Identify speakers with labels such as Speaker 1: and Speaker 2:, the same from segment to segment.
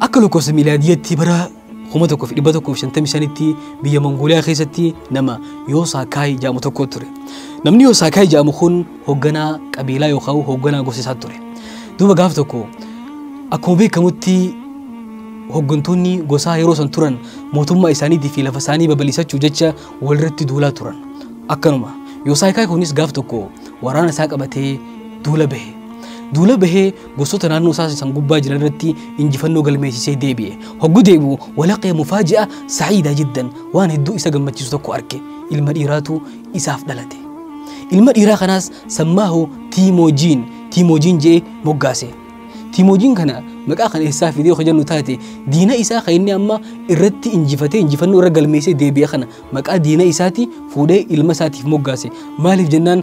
Speaker 1: Akka lakkoofsa miilaadiyyatti bara 1155tti biyya Mongooliyaa keessatti nama Yoosaakaay jedhamu tokko ture. Namni Yoosaakaay jedhamu kun hoogganaa qabiilaa yookaan hoogganaa gosa isaa ture. Duuba gaaf tokko akkuma beekamutti hooggantoonni gosaa yeroo san turan mootummaa isaaniitii fi lafa isaanii babal'isachuuf jecha walirratti duulaa turan. Akkanuma Yoosaakaay kunis gaaf tokko waraana isaa qabatee duula bahe. Duula bahee gosoota naannoo isaa san gubbaa jiran irratti injifannoo galmeessisee deebi'e. Hoggu deebi'u walaqee mufaaji'a sa'iidaa jiddan waan hedduu isa gammachiisu tokko arke. Ilma dhiiraatu isaaf dhalate. Ilma dhiiraa kanaas sammaahu Tiimoojiin Tiimoojiin je'ee moggaase. Tiimoojiin kana maqaa kana eessaa fidee yoo jennu taate diina isaa kan inni amma irratti injifatee injifannoo irra galmeessee deebi'e kana maqaa diina isaati fuudhee ilma isaatiif moggaase. Maaliif jennaan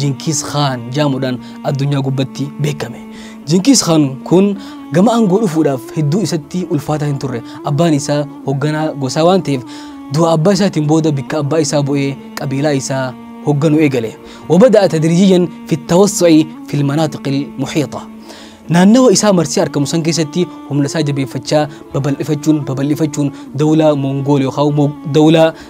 Speaker 1: Jinkiis Khaan jaamuudhaan addunyaa gubbatti beekame. Jinkiis Khaan kun gama aangoo dhufuudhaaf hedduu isatti ulfaataa hin turre. Abbaan isaa hogganaa gosaa waan ta'eef du'a abbaa isaatiin booda bikka abbaa isaa bu'ee qabiilaa isaa hogganu eegale. Wabada'a tadrijiyan fi tawassu'i fil manaatiqil muhiixa. Naannawa isaa marsee argamu san keessatti humna isaa jabeeffachaa babal'ifachuun babal'ifachuun dawlaa Mongool yookaan dawlaa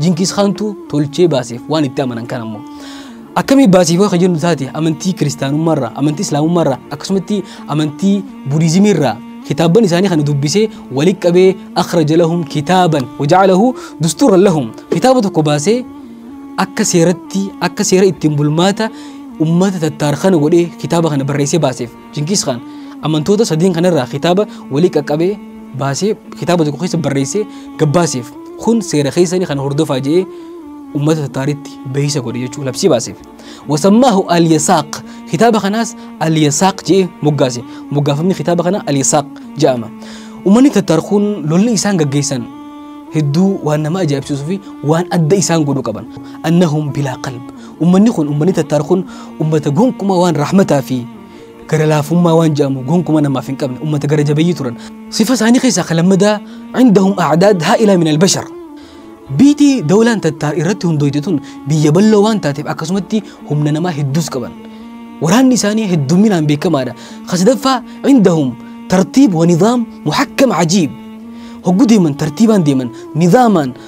Speaker 1: Jinkiis Kaantu tolchee baaseef waan itti amanan kan ammoo. Akkamii baasiifoo kan jennu taate amantii kiristaanummaarraa, amantii islaamummaarraa akkasumatti amantii budiizimiirraa kitaabban isaanii kana dubbisee walitti qabee akhraja lahum kitaaban waja'alahu dustuuran lahum kitaaba tokko baasee akka seeratti akka seera ittiin bulmaata ummata tattaar kana godhee kitaaba kana barreessee baaseef. Jinkiis Kaan amantoota sadeen kanarraa kitaaba walii qaqqabee baasee kitaaba tokko keessa barreessee gabbaaseef kun seera keessanii kana hordofaa jedhee ummata tattaaritti beeksisa godhe jechuun labsii baaseef. Wasammaahu Aliyasaaq kitaaba kanaas Aliyasaaq jedhee moggaase moggaafamni kitaaba kanaa Aliyasaaq jedhama. Uummanni tattaar kun lolli isaan gaggeessan hedduu waan nama ajaa'ibsiisuu fi waan adda isaan godhu qaban. Annahum bilaa qalb Ummanni kun ummanni Tattaar kun ummata gonkumaa waan rahmataa fi gara laafummaa waan jedhamu gonkumaa namaaf hin qabne ummata gara jabeeyyii turan. Sifa isaanii keessaa kan lammadaa indahum a'daad haa'ilaa min albashar. Biiti dawlaan Tattaar irratti hundooyte tun biyya bal'oo waan taateef akkasumatti humna namaa hedduus qaban. Waraanni isaanii heddumminaan beekamaadha. Kasadaffaa indahum tartiib wa nizaam muhakkam ajiib. Hoggu deeman tartiibaan deeman nizaamaan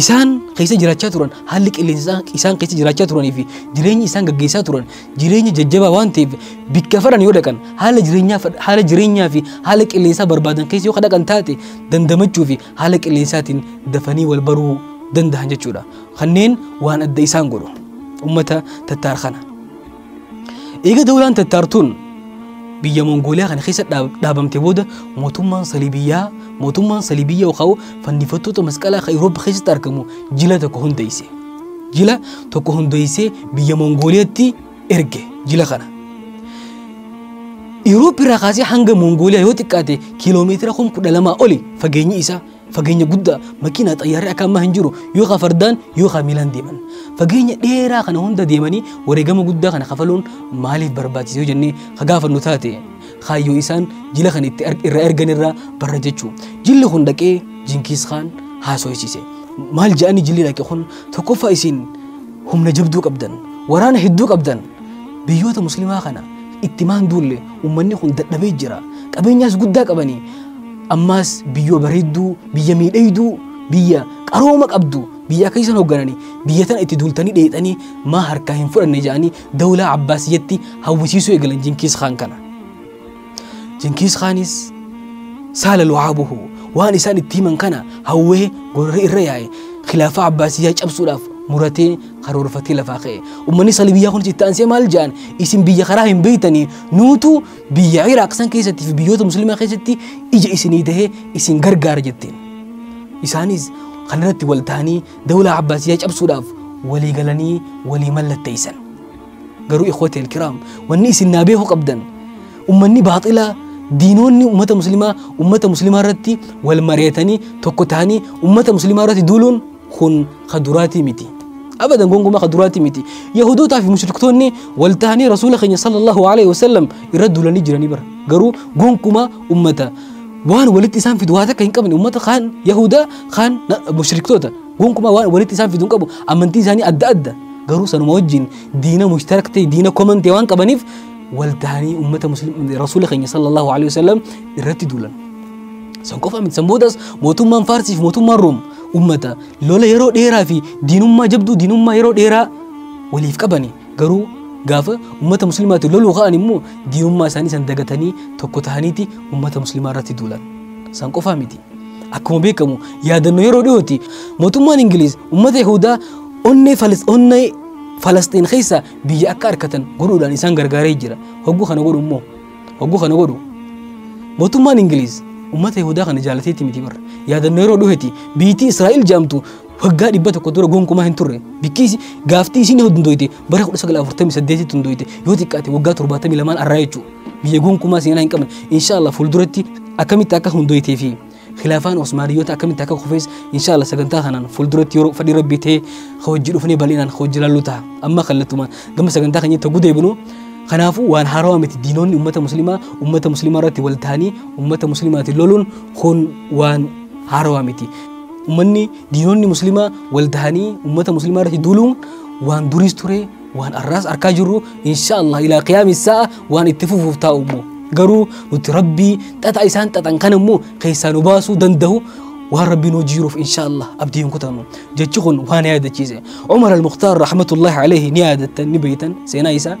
Speaker 1: isaan keessa jiraachaa turan haalli qilleensa isaan keessa jiraachaa turanii fi jireenyi isaan gaggeessaa turan jireenya jajjabaa waan ta'eef bikka fadhan yoo dhaqan haala jireenyaa haala jireenyaa fi haala qilleensaa barbaadan keessa yoo dhaqan taate dandamachuu fi haala qilleensaatiin dafanii wal baruu danda'an jechuudha. Kanneen waan adda isaan godhu uummata tattaar kana. Eega dawlaan tattaartuun biyya Mongooliyaa kana keessa dhaab- dhaabamte booda mootummaan Saliibiyyaa mootummaan Saliibiyyaa yookaan fannifattoota masqalaa kan Awurooppaa keessatti argamu jila tokko hundeesse. Jila tokko hundeessee biyya Mongooliyaatti erge jila kana. Awurooppaa irraa kaasee hanga Mongooliyaa yoo xiqqaate kiiloomeetira kuma kudha lamaa oli fageenyi isaa Fageenya guddaa makiinaa xayyaarri akka ammaa hin jiru yookaan fardaan yookaan miilaan deeman. Fageenya dheeraa kana hunda deemanii wareegama guddaa kana kafaluun maaliif barbaachise yoo jennee ka gaafannu taate kaayyoo isaan jila kana itti irraa ergan irraa barra jechuu. Jilli kun dhaqee Jinkiis Kaan haasofsiise. Maal jedhanii jilli dhaqe kun tokkoffaa isin humna jabduu qabdan waraana hedduu qabdan biyyoota muslimaa kana itti maan duulle ummanni kun dadhabee jira qabeenyaas guddaa qabanii ammaas biyyoo bareedduu biyya miidhayduu biyya qarooma qabdu biyya akka isan hooggananii biyya tana itti duultanii dheexanii maa harkaa hin fudhanne jedhanii dawlaa abbaasiyyatti hawwisiisuu eegalan jinkiis kaan kana jinkiis kaanis saala lu'aabuhu waan isaan itti himan kana hawwee gorra irra yaa'e khilaafaa abbaasiyyaa cabsuudhaaf muratee karoorfatee lafaa ka'e. Uummanni sali biyyaa kunis itti aansee maal jedhan isin biyya karaa hin beeytanii nuutu biyya Iraaq san keessatti fi biyyoota musliimaa keessatti ija isinii tahee isin gargaara jetteen. Isaanis kanarratti wal ta'anii dawlaa Abbaasiyyaa cabsuudhaaf walii galanii walii mallatteessan. Garuu ikhwati alkiraam wanni isin naa beeku qabdan uummanni baaxilaa diinoonni uummata musliimaa uummata musliimaa irratti wal mari'atanii tokko ta'anii uummata musliimaa irratti duuluun kun ka duraatii miti abadan gonkumaa ka duraatii miti yahudootaa fi mushriktoonni wal ta'anii rasuula keenya sallallahu alaihi wasallam irra duulanii jiranii bara garuu gonkumaa ummata waan walitti isaan fidu waa takka hin qabne ummata kaan yahudaa kaan na- mushriktoota gonkumaa waan walitti isaan fidu hin qabu amantii isaanii adda adda garuu sanuma wajjin diina mushtarak ta'e diina koman ta'e waan qabaniif wal ta'anii ummata muslim rasuula keenya sallallahu alaihi wasallam irratti duulan san qofa miti san boodas mootummaan faarsii fi mootummaan room ummata lola yeroo dheeraa fi diinummaa jabduu diinummaa yeroo dheeraa waliif qabani garuu gaafa ummata muslimaati loluu ka'an immoo diinummaa isaanii san dagatanii tokko tahaniiti ummata muslimaa irratti duulan san qofaa miti akkuma beekamu yaadannoo yeroo dhiyooti mootummaan ingiliiz ummata yahudaa onnee falis onnee falasxiin keessa biyya akka arkatan godhuudhaan isaan gargaaree jira hogguu kana godhu immoo Hogguu kana godhu mootummaan Ingiliiz uummata Yihudaa kana jaalateetti miti barra. Yaadannoo yeroo dhuheeti biitii Israa'el jaamtu waggaa dhibba tokko dura gonkumaa hin turre. Bikkiis gaaftii isiin hundooyte bara 1948tti hundooyte yoo xiqqaate waggaa 72 arraa jechuudha. Biyya gonkumaa seenaa hin qabne. Inshaallah fuulduratti akkamitti akka hundooytee fi Khilaafaan Osmaaniyyoota akkamitti akka kufes inshaalla sagantaa kanaan fuulduratti yeroo fadhii rabbii ta'e hojii dhufnee bal'inaan hojii lalluu ta'a. Amma kallattumaan gama sagantaa keenyatti hogguu deebinu kanaafuu waan haarawaa miti diinoonni uummata muslimaa uummata muslimaa irratti wal ta'anii uummata muslimaatiin loluun kun waan haarawaa miti. Uummanni diinoonni muslimaa wal ta'anii uummata muslimaa irratti duuluun waan duriis ture waan arraas arkaa jirru insha Allah ilaa qiyaami sa'a waan itti fufuuf taa'u immoo garuu nuti rabbii xaxa isaan xaxan kana immoo keessaa nu baasuu danda'u waan rabbiin hojii jiruuf insha Allah abdii hin kutannu jechi kun waan yaadachiise Umar al-Mukhtar rahmatullahi alayhi ni yaadattan ni beeytan seenaa isaa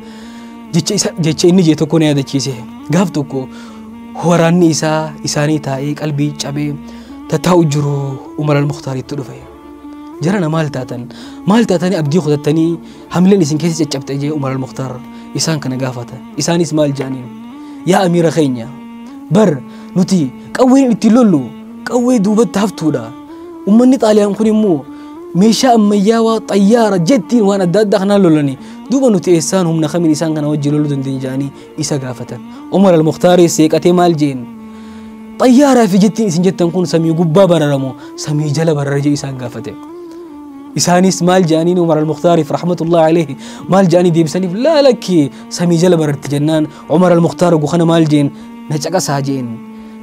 Speaker 1: jecha isa jecha inni jee tokko ni yaadachiise gaaf tokko waraanni isaa isaanii taa'ee qalbii cabee tattaa'u jiru Umar al-Mukhtar itti dhufe jarana maal taatan maal taatanii abdii kutattanii hamileen isin keessa caccabxe jee umar almuktaar isaan kana gaafata isaanis maal jaaniin yaa amiira keenya bar nuti qawween ittiin lollu qawwee duubatti haftuudha ummanni xaaliyaan kun immoo meeshaa ammayyaawaa xayyaara jettiin waan adda addaa kanaan lolani duuba nuti eessaan humna kamiin isaan kana wajjin loluu dandeenya jaanii isa gaafatan umar almuktaaris seeqatee maal jeen xayyaaraa fi jettiin isin jettan kun samii gubbaa bararamoo samii jala barara jee isaan gaafate isaanis maal jedhaniin umar almuktaariif rahmatullahi alayhi maal jedhanii deebisaniif laa lakki samii jala bararti jennaan umar almuktaar gukana maal jeen na caqasaa jeen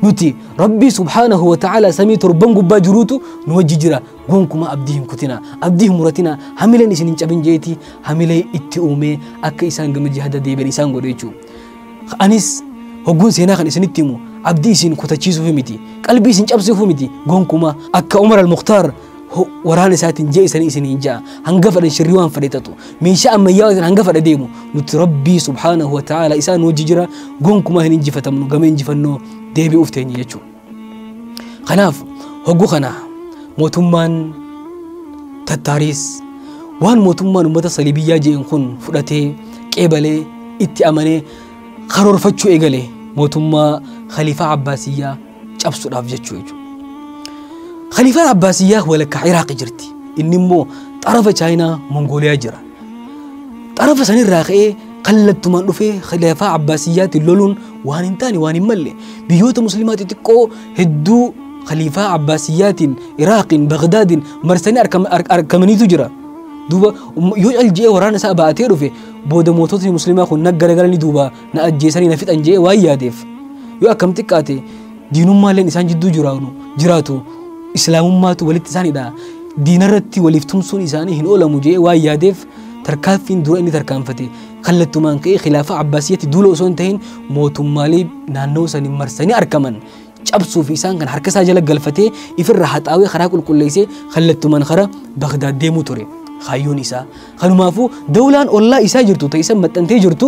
Speaker 1: nuti rabbii subhaanahu wa ta'ala samii torban gubbaa jiruutu nu wajji jira Gonkumaa abdii hin kutinaa, abdii hin muratinaa, hamileen isin hin cabin jeeti hamilee itti uumee akka isaan gama jihada deebi'an isaan godhe jechuudha. Anis hogguun seenaa kan isinitti himu abdii isin kutachiisuuf miti, qalbii isin cabsuuf miti gonkumaa akka Umar al-Mukhtaar waraana isaatiin jee isanii isin hin ja'a hanga fedhan shirrii waan fedhe tatu meeshaa ammayyaa isin hanga fedhe deemu nuti rabbii subhaanahu wa ta'ala isaan hojii jira gonkumaa hin injifatamnu gama injifannoo deebi'uuf teenye jechuudha. Kanaaf hoggu kana mootummaan tattaariis waan mootummaan uummata saliibiyyaa je'en kun fudhatee qeebalee itti amanee karoorfachuu eegale mootummaa khaliifaa abbaasiyyaa cabsuudhaaf jechuu jechuudha. Khaliifaan abbaasiyyaa walakkaa Iraaq jirti. Inni immoo xarafa chaayinaa Mongooliyaa jira. xarafa sanirraa ka'ee kallattumaan dhufee khilaafaa abbaasiyyaatiin loluun waan hin taane waan hin malle biyyoota muslimaa xixiqqoo hedduu khaliifaa abbaasiyyaatiin iraaqiin bagdaadiin marsanii arkam- ar- argamaniitu jira duuba um- yoo calji'ee waraana isaa ba'atee dhufe booda moototni muslimaa kun na garagalanii duuba na ajjeesanii na fixan je'ee waan yaadeef yoo akkam xiqqaate diinummaalleen isaan jidduu jiraanu jiraatu islaamummaatu walitti isaan hidha diinarratti waliif tumsuun isaanii hin oolamu jee waan yaadeef tarkaanfiin dura inni tarkaanfate kallattumaan ka'ee khilaafaa abbaasiyyatti duula osoo hin ta'in mootummaalee naannoo sanii marsanii argaman cabsuu fi isaan kan harka isaa jala galfatee ifirra haxaawee karaa qulqulleessee kallattumaan karaa Bagdaad deemuu ture kaayyoon isaa kanumaafuu dawlaan ollaa isaa jirtu ta'isan maxxantee jirtu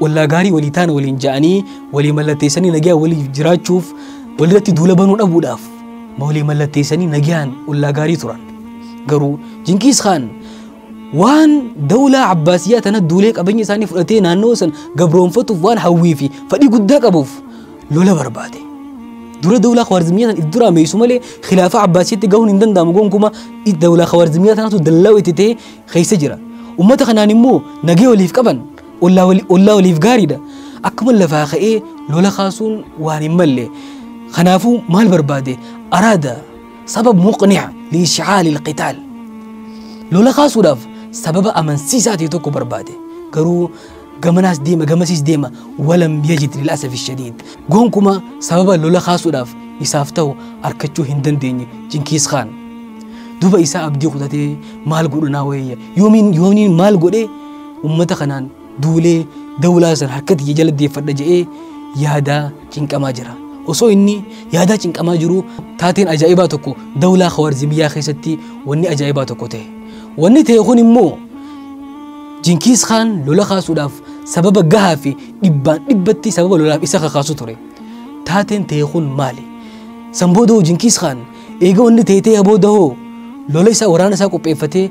Speaker 1: wallaa gaarii walii taana waliin ja'anii walii mallatteessanii nagaa walii jiraachuuf walirratti duula banuu dhabuudhaaf ma walii mallatteessanii nagaan wallaa gaarii turan garuu jinkiis kaan waan dawlaa abbaasiyyaa tana duulee qabeenya isaanii fudhatee naannoo san gabroonfatuuf waan hawwii fi fadhii guddaa qabuuf lola barbaade dura dawlaa khawaarzimiyyaa tan iddura meessu malee khilaafaa abbaasiyyatti gahuun hin danda'amu gonkuma dawlaa khawaarzimiyyaa tanatu dallaa'u itti ta'e keessa jira. Ummata kanaan immoo nagee waliif qaban ollaa wali- ollaa waliif gaariidha. Akkuma lafaa ka'ee lola kaasuun waan hin malle. Kanaafuu maal barbaade? Araada sabab muqni'a liishcaali ilqitaal. Lola kaasuudhaaf sababa amansiisaa ta'e tokko barbaade. Garuu gamanaas deema gamasiis deema walam yajid lil asafi shadiid gonkumaa sababa lola kaasuudhaaf isaaf ta'u arkachuu hin dandeenye jinkiis kaan duba isaa abdii kutatee maal godhu naa wayya yoomiin yoomiin maal godhee ummata kanaan duulee dawlaa san harkatti jala deeffadha je'ee yaadaa cinqamaa jira. Osoo inni yaadaa cinqamaa jiru taateen ajaa'ibaa tokko dawlaa Khawaarzimiyyaa keessatti wanni ajaa'ibaa tokko ta'e. Wanni ta'e kun immoo Jinkiis Khaan lola kaasuudhaaf sababa gahaa fi dhibbaan dhibbatti sababa lolaaf isa kakaasu ture. Taateen ta'e kun maali? San booda hoo Jinkiis Khaan eega wanni ta'e ta'e booda hoo lola isaa waraana isaa qopheeffatee